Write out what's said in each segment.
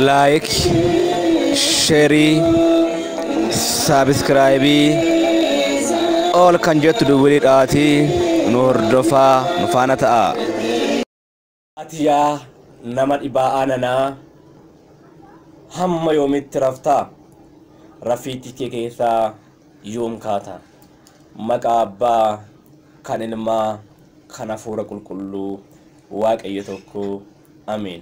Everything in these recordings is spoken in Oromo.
laayik sheerii saabiskiraayibii ol kan jettu duwwilii dhaatii nu hordofaa nu faana ta'a. Ati yaa nama dhibaa'aa nanaa hamma yoomitti raftaa? Rafiitii kee keessaa yoom kaata? Maqaa Abbaa, kan Ilmaa, kan Hafuura Qulqulluu, Waaqayyo tokko. Ameen.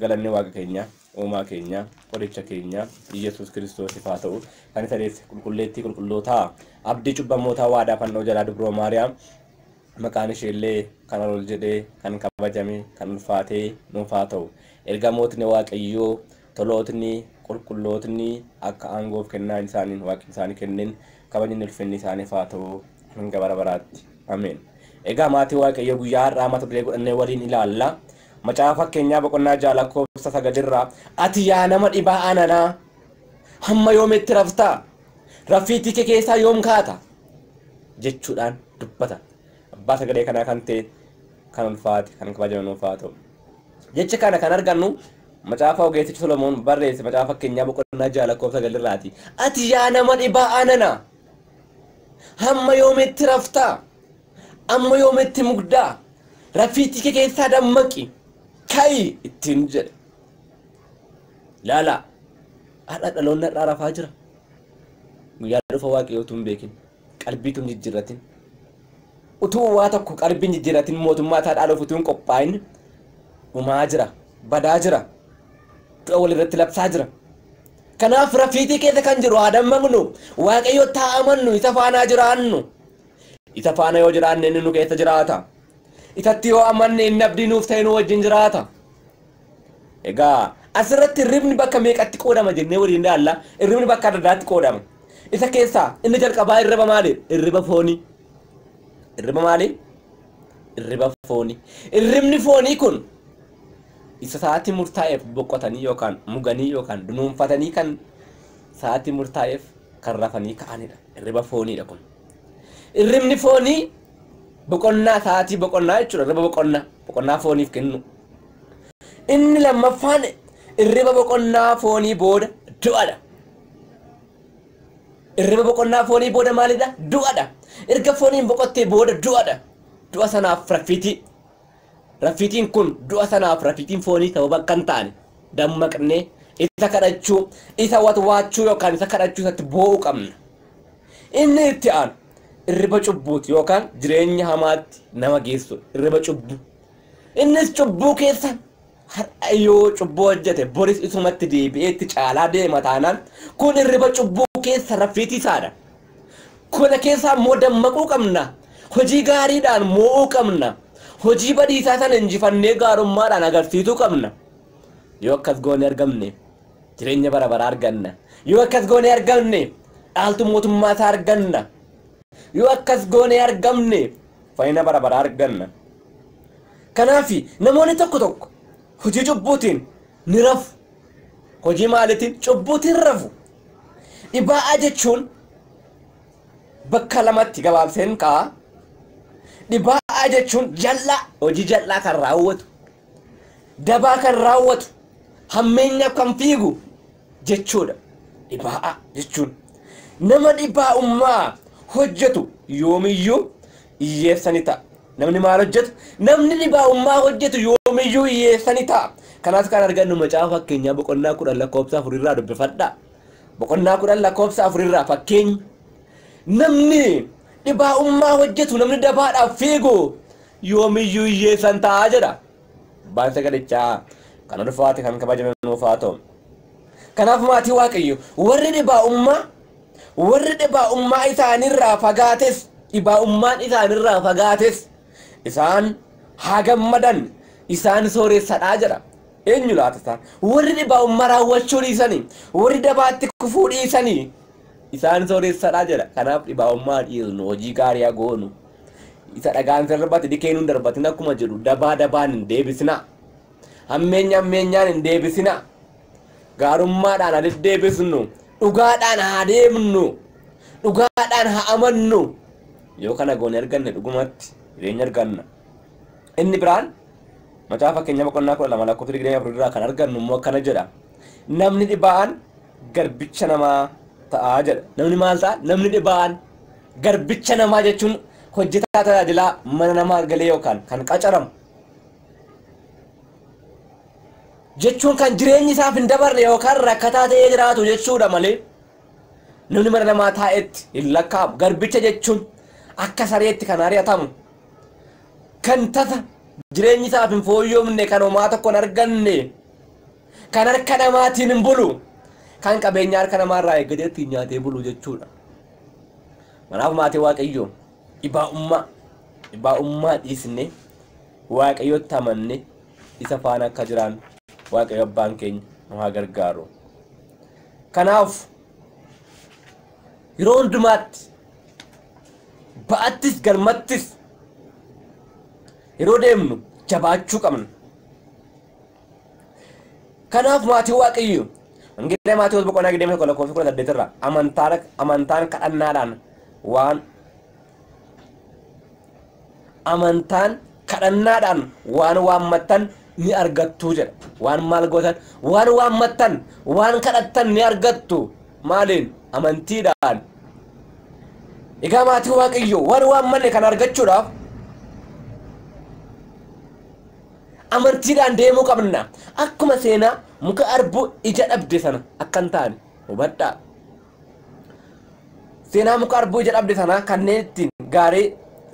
Galanni Waaqa keenyaa, Uumaa keenyaa, Qoricha keenyaa, Iyyesuus Kiristoosiif haa ta'u, kan isa deesse Qulqulleettii Qulqullootaa, Abdii cubbamootaa Waadaa Fannoo jalaa Dubroo Maariyaam, maqaan ishee illee kan ol ol jedhee, kan kabajame, kan ulfaatee nuuf haa ta'u. Ergamootni Waaqayyoo, Tolootni, Qulqullootni akka aangoo fi kennaa isaaniin Waaqni isaanii kenneen kabajni ulfinni isaaniif haa ta'u hanga bara baraatti. Ameen. Egaa maatii Waaqayyoo guyyaa har'aa mata duree godhannee waliin ilaalla. Macaafa Fakkeenyaa boqonnaa 6 lakkoofsa 9 irraa ati yaa nama dhibaa ananaa hamma yoomitti raftaa raffiitii kee keessaa yoom kaata jechuudhaan dubbata. Abbaa sagalee kanaa kan ta'e kan ulfaate kan kabajame nuuf haa ta'u. Jecha kana kan argannu macaafa ogeessichi Solomoon barreesse macaafa fakkeenyaa boqonnaa 6 lakkoofsa 9 irraati. Ati yaa nama dhibaa ananaa hamma yoomitti raftaa? Amma yoom itti mugdaa? Raffiittii kee keessaa dammaqi! Ka'i! ittiin jedhe. Laalaa! Har'a dhaloonni har'aa rafaa jira. Guyyaa dhufa Waaqayyoo utuu hin beekin, qalbii utuu hin jijjiirratin, utuu waa tokko qalbii hin jijjiirratin mootummaa isaa dhaaluuf utuu hin qophaa'in dhumaa jira, badaa jira, du'a walirratti labsaa jira. Kanaaf rafiitii keessa kan jiru haa dammaqnu, Waaqayyotti haa amannu, isa faanaa jiraannu. Isa faana yoo jiraanne inni nu keessa jiraata. Isatti yoo amanne inni abdii nuuf ta'e nu wajjin jiraata. Egaa asirratti hirribni bakka meeqatti qoodama jennee waliin ilaalla. Hirribni bakka adda addaatti qoodama. Isa keessaa inni jalqabaa hirriba maali? Hirriba foonii. Hirriba maali? Hirriba foonii. Hirribni foonii kun isa sa'aatii murtaa'eef boqotanii yookaan muganii yookaan dunuunfatanii kan sa'aatii murtaa'eef kan rafanii ka'anidha. Hirriba fooniidha kun. Irribni foonii boqonnaa sa'aatii boqonnaa jechuudha. Irriba boqonnaa boqonnaa fooniif kennu. Inni lammaffaan irriba boqonnaa foonii booda du'adha. Irriba boqonnaa foonii booda maalidha? Du'adha. Erga fooniin boqottee booda du'adha. Du'a sanaaf raffiitii Raffiitiin kun du'a sanaaf raffiitiin foonii sababa akka hin taane dammaqnee isa kadhachuu, isa watwaachuu yookaan isa kadhachuu isatti boo'uu qabna. Inni itti aanu irriba cubbuuti yookaan jireenya hamaatti nama geessudha. Irriba cubbuu. Innis cubbuu keessa Har'a yoo cubbuu hojjete boris isumatti deebi'ee itti caalaa deema taanaan kun hirriba cubbuu keessa raffiitii isaadha. Kana keessaa immoo dammaquu qabna. Hojii gaariidhaan moo'uu qabna. Hojii badiisaa sana injifannee gaarummaadhaan agarsiisuu qabna. Yoo akkas goone argamne jireenya bara baraa arganna. Yoo akkas goone argamne dhaaltuu mootummaa isaa arganna. Yoo akkas goone argamne fayyina bara baraa arganna. Kanaaf, namoonni tokko tokko hojii cubbuutiin ni rafu. Hojii maaliitiin? Cubbuutiin rafu. Dhibaa'aa jechuun bakka lamatti gabaabseen kaa'a. Dhibaa'aa jechuun jal'aa, hojii jal'aa kan raawwatu, dabaa kan raawwatu, hammeenyaaf kan fiigu, jechuudha. Dhibaa'aa jechuun nama dhibaa'ummaa hojjetu yoomiyyuu hiyyeessa ni ta'a. Namni maal hojjetu? Namni dhibaa'ummaa hojjetu yoomiyyuu hiyyeessa ni ta'a. Kanas kan argannu macaafa fakkeenyaa boqonnaa kudhan lakkoofsa afurirraa dubbifadhaa. Boqonnaa kudhan lakkoofsa afurirraa fakkeenyi namni dhibaa'ummaa hojjetu namni dabaadhaaf fiigu yoomiyyuu hiyyeessan ta'a jedha. Abbaan sagalichaa kan ulfaate kan kabajame nuuf haa ta'u. Kanaaf maatii Waaqayyo warri dhibaa'ummaa warri dhibaa'ummaa isaanirraa fagaates dhibaa'ummaan isaanirraa fagaates isaan haa gammadan isaan sooressadhaa jedha. Eenyu laata isaan? Warri dhibaa'ummaa raawwachuu dhiisanii warri dabaatti kufuu dhiisanii isaan sooressadhaa jedha. Kanaaf dhibaa'ummaa dhiisnu hojii gaarii haa goonu. Isa dhagaan isa irratti dikeenuu hin darbatin akkuma jedhu dabaa dabaan hin deebisinaa. Hammeenya hammeenyaan hin deebisinaa. Gaarummaadhaan haa deddeebisnu. Dhugaadhaan haa deemnu. Dhugaadhaan haa amannu. Yoo kana goone arganne dhugumatti jireenya arganna. Inni biraan macaafa fakkeenyaa boqonnaa kudha lama lakkoofsa digdamii afur irraa kan argannu immoo akkana jedha. Namni dhibaa'aan garbicha namaa ta'a jedha. Namni maal ta'a? Namni dhibaa'aan Garbicha namaa jechuun hojjetaa tajaajilaa mana namaa galee yookaan kan qacaramu jechuun kan jireenyi isaaf hin dabarre yookaan rakkataa ta'ee jiraatu jechuudha malee namni mana namaa taa'etti hin lakkaa'amu. Garbicha jechuun akka sareetti kan ari'atamu kan tasa jireenyi isaaf hin fooyyomne kan homaa tokko hin arganne kan harka namaatiin hin bulu kan qabeenya harka namaa irraa eeggatee ittiin nyaatee bulu jechuudha. Kanaaf maatii Waaqayyoo dhibaa'ummaa dhibaa'ummaa dhiisnee Waaqayyotti amanne isa faana akka jiraannu Waaqayyo abbaan keenya nu haa gargaaru. Kanaaf yeroo hundumaatti ba'attis galmattis yeroo deemnu jabaachuu qabna. Kanaaf maatiin waaqayyoo Wangeela Maatewos boqonnaa 21 lakkoofsa 18 irraa amantaan amantaan kadhannaadhaan waan amantaan kadhannaadhaan waan waammattan ni argattu jedha. Waan maal gootan? Waan waammattan, waan kadhattan ni argattu. Maaliin? Amantiidhaan. Egaa maatiin waaqayyoo waan waammanne kan argachuudhaaf amantiidhaan deemuu qabna. Akkuma seenaa muka arbuu ija dhabde sana akka hin taane hubadhaa. Seenaa muka arbuu ija dhabde sanaa kanneen ittiin gaarii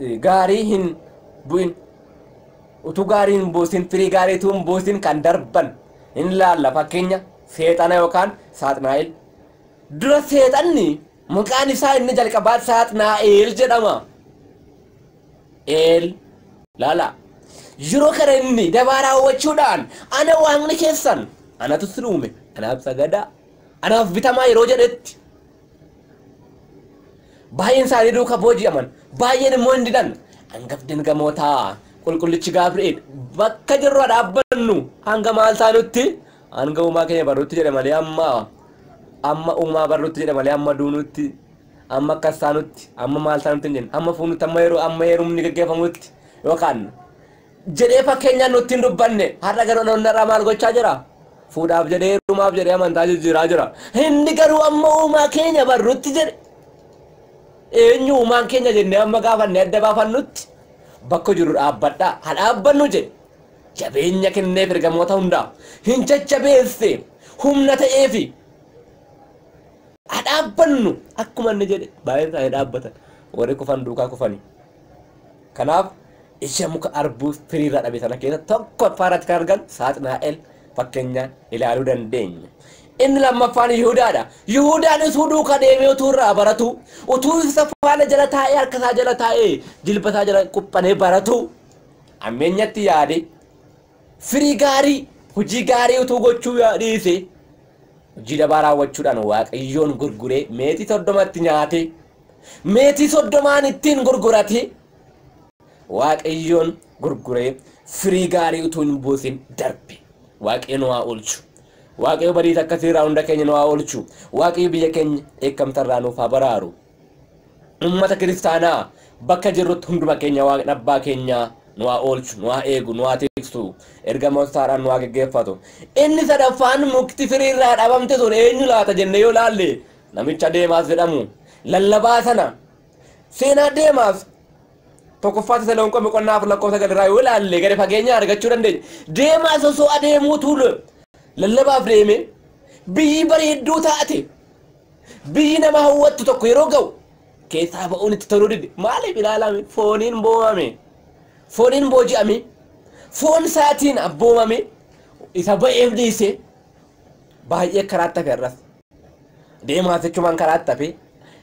eh, gaarii hin bu'in utuu gaarii hin buusin firii gaarii utuu hin buusin kan darban hin laalla fakkeenya seexana yookaan saaxinaa'el. Dura seexanni maqaan isaa inni jalqabaa saaxinaa'el jedhama. Eel. Laalaa. Yeroo kana inni dabaa raawwachuudhaan ana waaqni keessan anatu isin uume anaaf sagadaa anaaf bitamaa yeroo jedhetti baay'een isaanii duuka booji'aman baay'een immoo hin didan hangafni ergamootaa qulqullichi Gabri'eel bakka jirru dhaabbannu hanga maal taanutti hanga uumaa keenya barrutti jedhe malee amma amma uumaa barrutti jedhe malee amma duunutti amma akkas taanutti, amma maal taanutti hin jennu, amma fuunutti, amma yeroo amma heerumni gaggeeffamutti yookaan jedhee fakkeenyaan nutti hin dubbanne har'a garuu dhaloonni har'aa maal gochaa jira? Fuudhaaf jedhee heerumaaf jedhee amantaa jijjiiraa jira. Inni garuu amma uumaa keenya barrutti jedhe eenyu uumaan keenya jennee amma gaafannee adda baafannutti bakka jirru dhaabbadhaa ha dhaabbannu jedhe jabeenya kenneef ergamoota hundaaf hin jajjabeesse humna ta'eefi Haa dhaabbannu! Akkuma inni jedhe baay'een isaanii dhaabbatan. Warri kufan duukaa kufani. Kanaaf ija muka arbuu firii irraa dhabe sana keessa tokkoffaa irratti kan argan Saaxinaa'el fakkeenyaan ilaaluu dandeenya. Inni lammaffaan Yihudaadha. Yihudaan utuu duukaa deemee utuu irraa baratuu, utuu isa faana jala taa'ee harka isaa jala taa'ee jilba isaa jala quphanee baratuu ammeenyatti yaade Firii gaarii, Hojii gaarii utuu gochuu yoo dhiise, hojii dabaa raawwachuudhaan Waaqayyoon gurguree meetii soddoma itti nyaatee, meetii soddomaan ittiin gurguratee, Waaqayyoon gurguree firii gaarii utuu hin buusin darbe. Waaqayyo nu haa oolchu. Waaqayyo badiisa akkasii irraa hunda keenya nu haa oolchu. Waaqayyo biyya keenya dheekkamsa irraa nuuf haa baraaru. Ummata kiristaanaa bakka jirrutti hunduma keenya waaqni abbaa keenyaa nu haa oolchu, nu haa eegu, nu haa tiksu, ergamoota isaadhaan nu haa geggeeffatu. Inni sadaffaan mukti firii irraa dhabamte sun eenyu laata jennee yoo laalle namicha Deemaas jedhamu lallabaa sana seenaa Deemaas tokkoffaa Tasalonqoo boqonnaa afur lakkoofsa sagal irraa yoo laalle gadi fageenya argachuu dandeenya. Deemaas osoo adeemuutu lallabaaf deeme biyyi bareedduu taate Biyyi nama hawwattu tokko yeroo ga'u keessaa ba'uun itti toluu dide. Maaliif ilaalame? Fooniin boomame. Fooniin booji'ame. Foon isaatiin abboomame. Isa ba'eef dhiise. Baay'ee karaatti hafe har'as. Deemaas jechumaan karaatti hafe.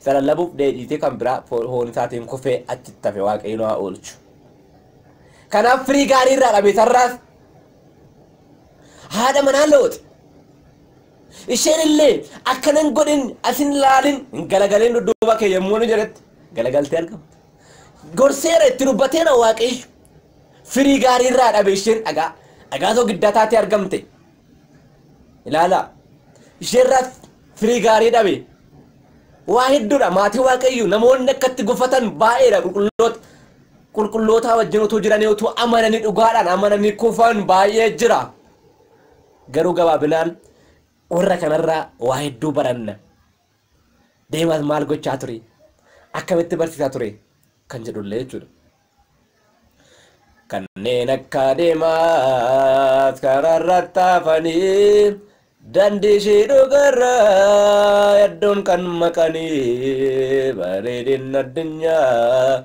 Isa lallabuuf deebiitee kan biraa foon isaatiin kufee achitti hafe waaqayyoon haa oolchu. Kanaaf firii gaarii irraa dhabe sarraas. Haadha manaa looxi. Isheen illee, Akka nan godhin as hin ilaalin, hin galagalin dudduuba kee yommuu inni jedhetti, galagaltee argamte. Gorseera, itti dubbateera Waaqayyo. Firii gaarii irraa dhabe isheen dhagaa, dhagaa soogiddaa taatee argamte. Ilaalaa, ishee irraa firii gaarii dhabe. Waa hedduudha maatii Waaqayyo namoonni akkatti gufatan baay'eedha qulqulloota. Qulqullootaa wajjin utuu jiranii utuu amananii dhugaadhaan amananii kufan baay'ee jira. Garuu gabaabinaan warra kanarraa waa hedduu baranna. Deemaas maal gochaa ture? Akkamitti barsiisaa ture? Kan jedhullee jechuudha. Kanneen akka deemaas karaarratti hafanii dandii ishee dhugarraa hedduun kan maqanii bareedinni addunyaa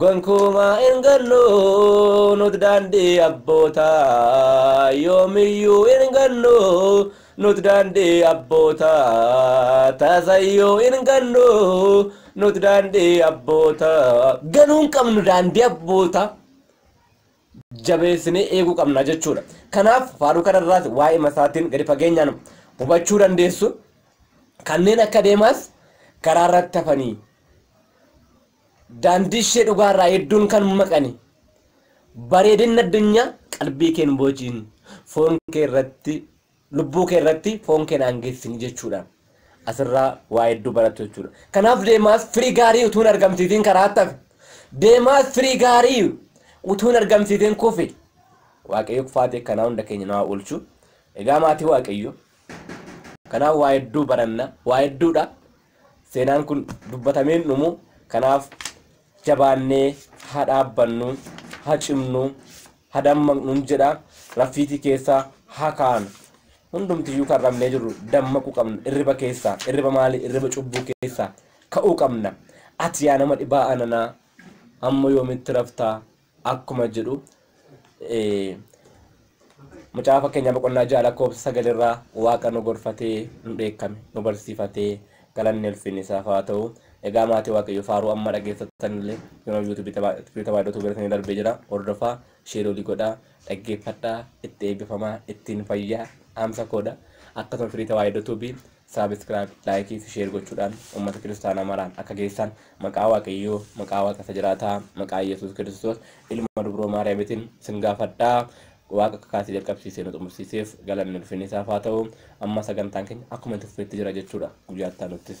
Gonkumaa hin gannu nut daandii abbootaa Yoomiyyuu hin gannu nut daandii abbootaa Tasayyuu hin gannu nut daandii abbootaa Ganuu hin qabnu daandii abbootaa jabeessinee eeguu qabna jechuudha. Kanaaf faaruu kanarraas waa'ima isaatiin gadi fageenyaan hubachuu dandeessu. Kanneen akka deemaas karaarratti hafanii Daandiishee dhugaarraa hedduun kan maqani. Bareedinni addunyaa qalbii kee hin boojiin, foon kee irratti, lubbuu kee irratti foon kee naan geessini jechuudhaan asirraa waa hedduu barattu jechuudha. Kanaaf deemaas firii gaarii utuu hin argamsiisin karaatti hafe. Deemaas firii gaarii utuu hin argamsiisin kufe. Waaqayyo kufaatii akkanaa hunda keenya nu haa oolchu. Egaa maatii Waaqayyo. Kanaaf waa hedduu baranna, waa hedduudha. Seenaan kun dubbatamee hin dhumu. Kanaaf jabaannee haa dhaabbannu, haa cimnu, haa dammaqnuun jedha. Raffiitii keessa haa kaanu. Hundumtiyyuu kan rafnee jirru dammaquu qabna. Irriba keessa, irriba maalii? Irriba cubbuu keessa ka'uu qabna. Ati yaa nama dhibaa ananaa, hamma yoomitti raftaa? akkuma jedhu Macaafa Fakkeenyaa boqonnaa ja'a lakkoofsa sagal irraa Waaqa nu gorfatee nu dheekkame nu barsiifatee galanni ulfinni isaaf haa ta'u. Egaa maatii Waaqayyoo faaruu amma dhageeffattan illee yeroo yuutuubii tabaadoo tuubeeratanii darbee jira hordofaa sheerii olii godhaa dhaggeeffadhaa itti eebbifamaa ittiin fayyaa dhaamsa koodha akkasuma firii tawaayidoo tuubii Subscribe, like fi share gochuudhaan ummata kiristaanaa maraan akka geessaan maqaa Waaqayyoo, maqaa Waaqa isa jiraataa, maqaa Iyyasuus Kiristoos ilma dubroo Maariyaamitiin sin gaafadha. Waaqa akka kaasee jalqabsiisee nu xumursiiseef galanni ulfinni isaaf haa ta'u. Amma sagantaan keenya akkuma itti fufeetti jira jechuudha guyyaa itti aanuttis.